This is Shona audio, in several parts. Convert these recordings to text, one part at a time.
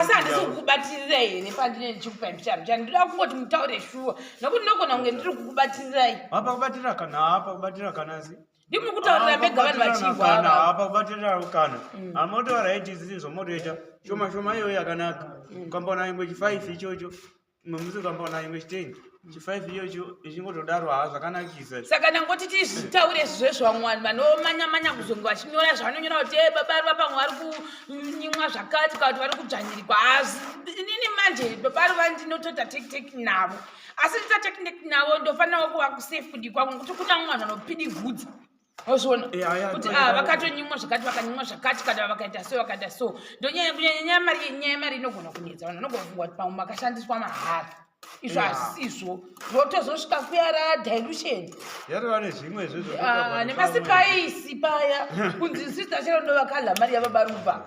asi handisi kukubatirirei here pandine ndichikupai mbicharo chani ndoda kungoti mutaure shuwa nokuti ndinogona kunge ndiri kukubatirirei hapa kubatira kana hapa kubatira kana si ndimuri kutaurira mega vanhu vachihwahapa kubatirira kana mm. amotoara iti zii zvomotoita shoma shoma iyoyo yakanaka mm. ukambaona ingwe chifive ichocho Mamuzi kamba na imwe chitengi. Chi 5 iyo cho ichingodaro ha zvakanakisa. Saka nangoti tizvitaure zve zvamwani vanomanya manya kuzongo vachinyora zvanonyora kuti eh baba ari vapa mwari kunyimwa zvakati kana kuti vari kudzvanyirwa hazi. Nini manje baba ari vandinotota take take navo. Asi ndita take take navo ndofanira kuva ku safe kudikwa ngokuti kuna mwana anopidi vhudza. ozviona kuti ah, vakatonyimwa zvakati vakanyimwa zvakati kana vakaita so vakaita so ndonyaya kunyanya nyaya mari nyaya yemari inogona kunetsa vanhu vanogona kufungwa kuti pamwe makashandiswa mahara izvo hazisizvo zvotozosvika kuyara dilution ah, nemasipaisi paya kunzi sister chero ndovakadla mari yavabaruva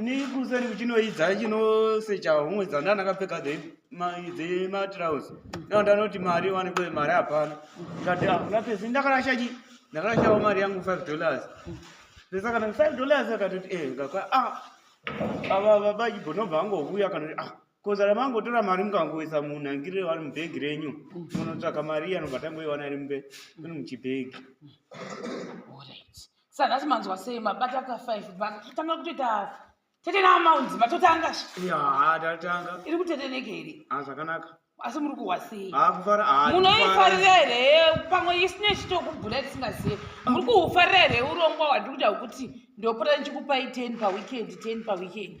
ini kuseri kuchinoidza chinosecha humwe dzandana kapfeka dzematrouse nao ndanoti mari wanikwe mari hapana ndikati hakuna ah, pesi ndakarasha chi ndakarashawo mari yangu five dollars pesa kana five dollars akatoti e eh, ngakwa a ah, ava baba ibo nobva angovuya kanoti a ah, kozara mangotora mari mukangoisa munhangirire wari mubhegi renyu munotsvaka mari anobva tangoiwana iri mube iri muchibhegi sanhasi manzwa sei mabata ka five bhaka totanga kutoita tete naamaunzi matotanga haa tatanga iri kuteteneke here a ah, zvakanaka asi muri kuhwa sei ah, ah, munoifarira here pamwe isine chitokubhura tisingazive muri kuhufarira here urongwa hwandiri kuda hwekuti ndopota ndichikupai ten paweekend ten paweekend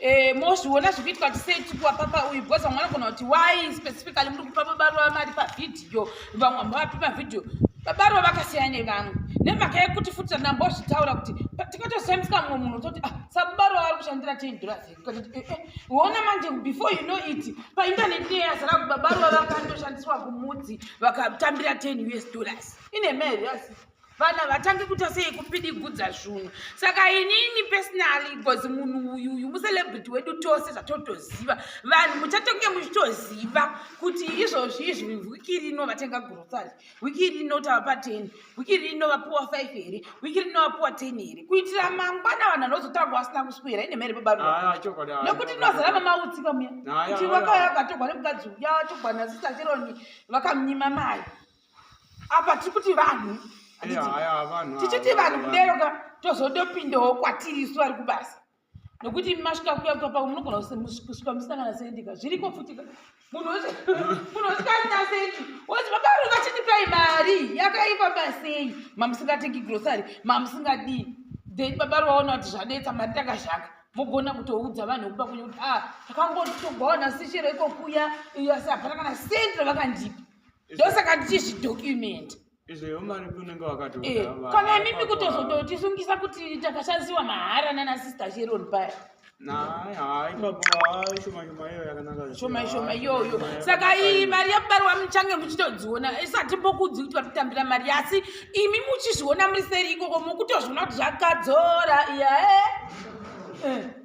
eh, mozviona zviri kuitwa tisei tikuwa papa uyu because vamwe vanogona kuti why specifically muri kupa babaruva mari pavhidhiyo vamwe vamwe vapi pavhidhiyo babaruva vakasiyana nevamwe nemhaka yekuti futi tandambozvitaura kuti tikatosiyambisa mumwe munhu toti ah, sabaro ari kushandira ten dollars uona eh, eh, manje before you know it painternet iye yazara kuti babaruva vakandoshandiswa kumudzi vakatambira ten us dollars ine mari yasi vanhu havatangi kuita sei kupidigudza zvunhu saka inini personally bcoz munhu uyu uyu mucelebrity wedu tose zvatotoziva vanhu muchatonge muchitoziva kuti izvozvi izvi wiki rino vatenga grocery wiki rino tava paten wiki rino vapuwa five here wiki rino vapuwa ten here kuitira mangwana vanhu vanozotanga vasina kuswera ine mhere babaronokuti ah, tinozara mamautsika muya kuti wakauya akatogwa nemukadzi uya togwa nasisachironi vakamunyima mari apa tiri kuti vanhu tichiti vanhu kudero ka tozodopindawo kwatiri isu vari kubasa nokuti masvika kuya kuya pamwe munogona kusvika musangana sendika zviriko futi munhu usikasina sendi wozi vakaru vachitipai mari yakaipa pasei mamusingatengi grosary mamusingadii then baba ri vaona kuti zvanetsa mari takazhaka mogona kutoudza vanhu vekuba kunye kuti a ah, takangotogaona sechero iko kuya iyo asi hapana kana sendi ravakandipa ndosaka ndichizvidocument eh, kana imimi kutozototisungisa kuti takashandiwa mahara nana sister sheron paya shoma shoma iyoyo saka iyi mari yakubarwa muchange muchitodziona isati mbokudzi kuti vatitambira mari asi imi muchizviona muri seri ikoko mukutozviona kuti zvakadzora iyae eh.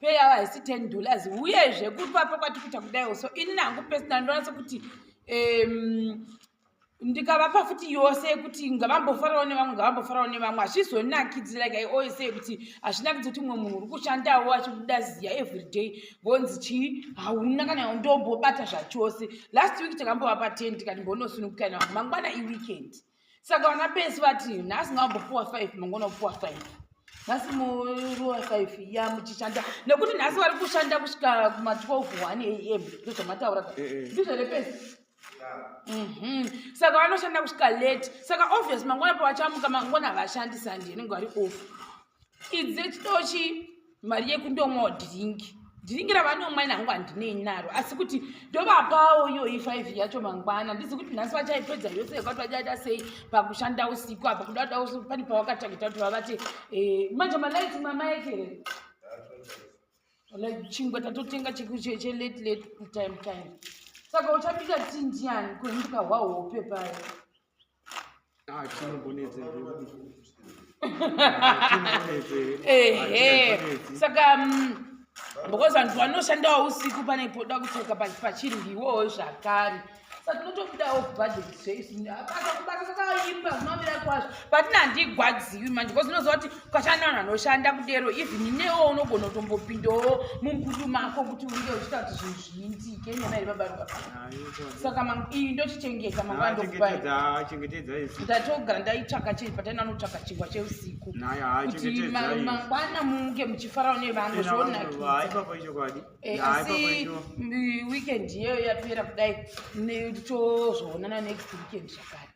pay yavo haisi ten dollars uyezve kupapo kwati kuita kudaiwo so ini nangu pesina ndinoona sekuti um, ndikavapa futi yose yekuti ngavambofarawo nevamwe ngavambofarawo nevamwe hazvizonakidzira like i always say kuti hazvinakidzi kuti mumwe munhu uri kushandawo achibuda ziya every day vonzi chii hauna kana ndombobata zvachose last week takambovapa ten tikati mbonosunukukana vamwe mangwana iweekend saka vana pesi vati nhasi ngaambopuwa five mangona kupuwa five nhasi muruwa five ya muchishanda nekuti nhasi vari kushanda kusvika kuma 12 one am ndozvamataura eh, eh. ndizvo here pesi mhm. saka vanoshanda kusvika late saka obvious mangona pavachamuka mangona havashandi sandi inenge vari off idze chitochi mari yekundomwawo dhiringi dhiringi ravanomwa ini hangu handinei naro asi kuti ndovapawo iyoyi five yacho mangwana ndizi kuti nhasi vachaipedza yose yekuti vachaita sei pakushanda usiku apa kuda kuda usiku pane pavakatagita kuti vavati eh, manje malaiti mamaekere like chingwa tatotenga chelate late time time saka uchapita tindiani kuhinduka hwahope paye Ah, ehe saka mm, because vanhu vanoshandawo usiku pane poda kutsveka pachirwiwowo zvakare saka tinotobudawo budget zveisu akakubasa sakaimba zvinomira kwazvo patina handigwadziwi manje because unoziva kuti kwashanda vanhu vanoshanda kudero even inewo unogona kutombopindawo mumbudu mako kuti unge uchiita kuti zvinhu zviitike nyama iri babaruka saka iyi ndochichengeta mangwana ndokubaindatogara ndaitsvaka chei pataina anotsvaka chingwa cheusiku kuti mangwana munge muchifarawo nevamwe zvonakidzaasi eh, weekend iyeyo yapera kudai tozvoonana next weekend zvakare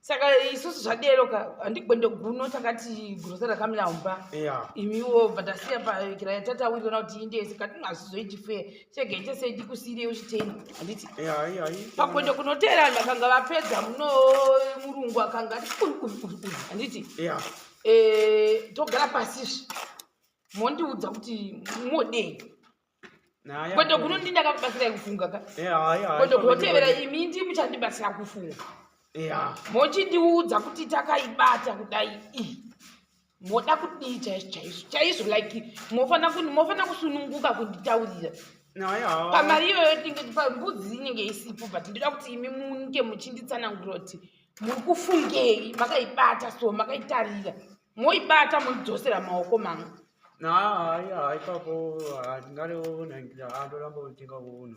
saka isusu zvadero ka handigwende guno takati grosa rakamira umba yeah. imiwo bva tasiya pakira yatatawiriona kuti inde yese katinga hazvizoiti fe chega ite sei tikusiirei uchiteni handiti pakwende kunoteera vanhu vakanga vapedza muno murungu akanga ati handiti eh, togara pasizve mondiudza kuti modei kwete kuno ndi ndakakubatsirai kufunga ka kwete kotevera imi ndi muchandibatsira kufunga mochindiudza kuti takaibata kudai ii moda kudii chaizvo chaizvo chaizvo like mofanira kusununguka kunditaurira pamari iyoyo tinge pambudzi inenge isipo but ndoda kuti imi munge muchinditsanangura kuti muri kufungei makaibata so makaitarira moibata moidzosera maoko mamwe hayi hayi papo ndingareona ndoramba kutenga unhu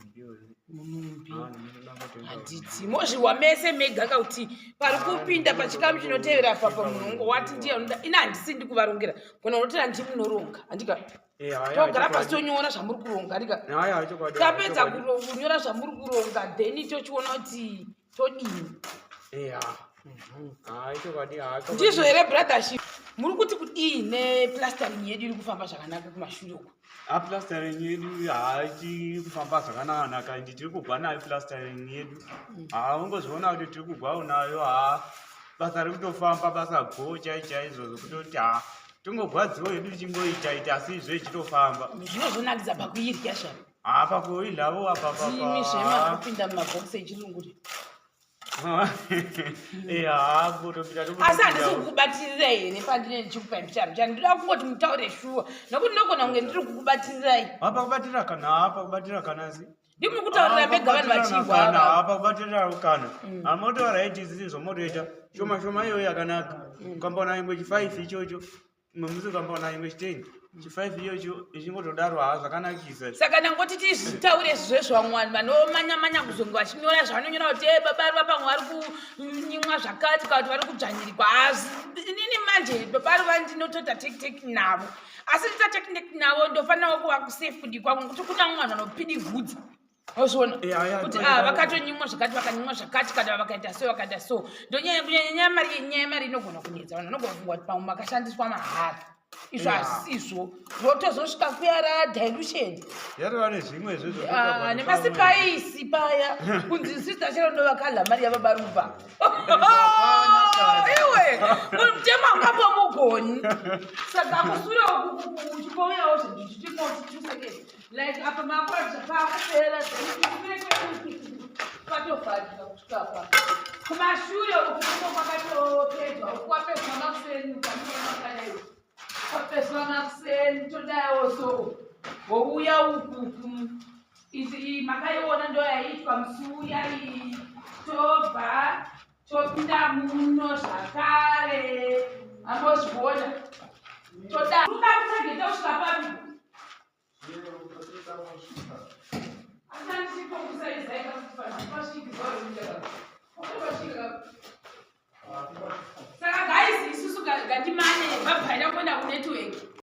unhumbi handiti mozvihwa mese mega ka kuti pari kupinda pachikamu chinotevera papa munhu wati ndiye anoda ini handisi ndi kuvarongera kona unotera ndi munoronga handika eh, togara pasi tonyora zvamuri kuronga handika tapedza kunyora zvamuri kuronga then tochiona kuti todini eya mhm. hayi chokwadi hacho ndizvo here brothership muri kuti kudii neplastering yedu iri kufamba zvakanaka kumashure uko aplastering yedu haachiri kufamba zvakananaka ndi tiri kugwa nayo plastering yedu mm. haungozviona kuti tiri kugwawo nayo ha basa ri kutofamba basa go chai chaizvo zvokutoti ha tingogwadziwo yedu tichingoita ita asi izvo ichitofamba zvinozonakidza pakuirya shava apa kuilavo apapazvimi zvemakupinda mumabhokisi echirungu eh, asi handisi kukubatirira here pandine ndichikupai mbicharo chani ndoda kungoti mutaure shuwa nokuti ndogona kunge ndiri kukubatirirai apa kubatira kana apa kubatira kana si ndimuri kutaurira mega vanhu vachihwaa apa kubatira kana mm. amotaura iti zvizi zvomotoita shoma shoma iyoyo yakanaka mm. ukambaona ingwe chifaisi ichocho Mamuzi ukambaona imwe chitengi chifive iyocho ichingotodaro haa zvakanakisa saka ndangoti tizvitaure zvezvo vamwe vanhu vanomanya manya kuzonge vachinyora zvavanonyora kuti e baba vari vapamwe vari kunyimwa zvakati kana kuti vari kudzvanyirikwa hazi inini manje baba vari vandinotota tekiteki navo asi ndita tekiteki navo ndofanirawo kuva kusafe kudii kwangu kuti kuna mwanhu anopidi vhudzi ozviona kuti ah, vakatonyimwa zvakati vakanyimwa zvakati kana vakaita so vakaita so ndonyaya kunyanya nyaya mari nyaya yemari inogona kunetsa vanhu vanogona kufungwa kuti pamwe makashandiswa mahara izvo hazisizvo zvotozosvika kuyara dilution ah, nemasipaisi paya kunzi sister chero ndovakadla mari yavabaruva iwe mutema ungapo mugoni saka kusura uchipouyawo zvichitimotituseke like apa makwadza pakupera patovhadika kusvika pa kumashure uku kuno kwakatopedzwa uku kwapedzwa makuseni ukamuamakadai kwapedzwa makuseni todayawo so wouya uku makaiona ndoyaitwa musiuya iyi tobva topinda muno zvakare ambozviona toda kuda kutageta kusvika papi saka guys isusu gatimane vabvaira kuenda kunetwork